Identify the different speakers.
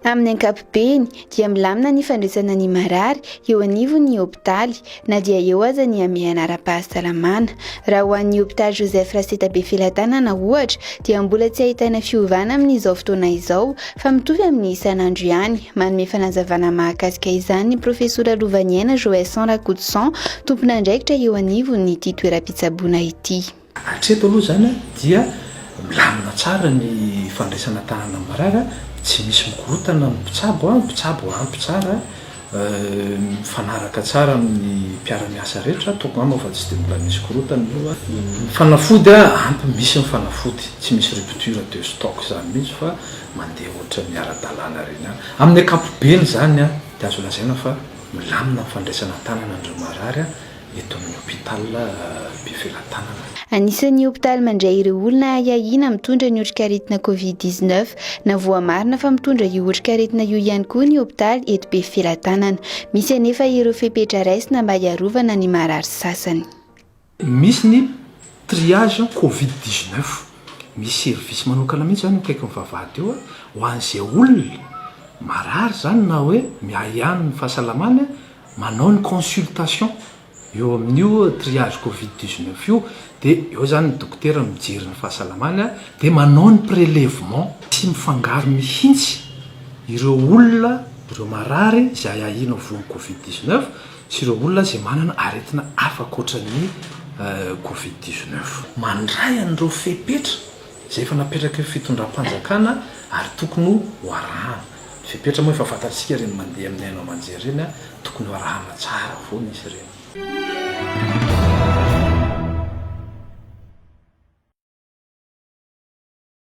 Speaker 1: Amin'ny ankapobeny dia milamina ny fandraisana ny marary eo anivon'ny hopitaly na dia eo aza ny hamehana ara-pahasalamana. Raha ho an'ny hopitaly Joseph Raseta Befelatanana ohatra dia mbola tsy ahitana fiovana amin'izao fotoana izao Fa mitovy amin'ny isan'andro ihany. Manome fanazavana mahakasika izany ny Profesora Lovaniaina Joëson Rakotoson, tompon'andraikitra eo anivon'ity toeram-pitsaboana ity. Hatreto aloha izany
Speaker 2: dia milamina tsara ny fandraisana tahanan'ny marary, tsy misy mikorontana ny mpitsabo, ny mpitsabo ampy tsara Mifanaraka tsara amin'ny mpiara-miasa rehetra, toko angamba fa tsy dia mbola nisy korontana aloha. Ny fanafody ampy, misy ny fanafody, tsy misy rupture de stock izany mihitsy fa mandeha ohatran'ny ara-dalàna ireny ihany. Amin'ny ankapobeny izany dia azo lazaina fa milamina ny fandraisana an-tanana an'ireo marary. eto amin'ny Hôpital Befelatanana. Anisan'ny
Speaker 1: hôpitaly mandray ireo olona ahiahiana mitondra ny otrikaretina Covid dix neuf na voamarina fa mitondra io otrikaretina io ihany koa ny hôpitaly eto Befelatanana. Misy anefa ireo fepetra raisina mba hiarovana ny marary sasany. Misy
Speaker 2: ny triage Covid dix neuf, misy service manokana mihitsy izany eo akaikin'ny vavahady eo ho an'izay olona marary izany na hoe miahiahy ny fahasalamany. manao ny consultation eo amin'io triage covid dix neuf io dia eo zany ny dokotera mijery ny fahasalamany a! dia manao ny prelevement. Tsy mifangaro mihitsy ireo olona, ireo marary izay ahiana ho voan'ny covid dix neuf sy ireo olona izay manana aretina hafa ankoatra ny covid dix neuf. Mandray an'ireo fepetra izay efa napetraky ny fitondram-panjakana ary tokony ho arahana. Ny fepetra moa efa fantatsika ireny mandeha amin'ny haino aman-jery ireny a, tokony ho arahana tsara foana izy ireny.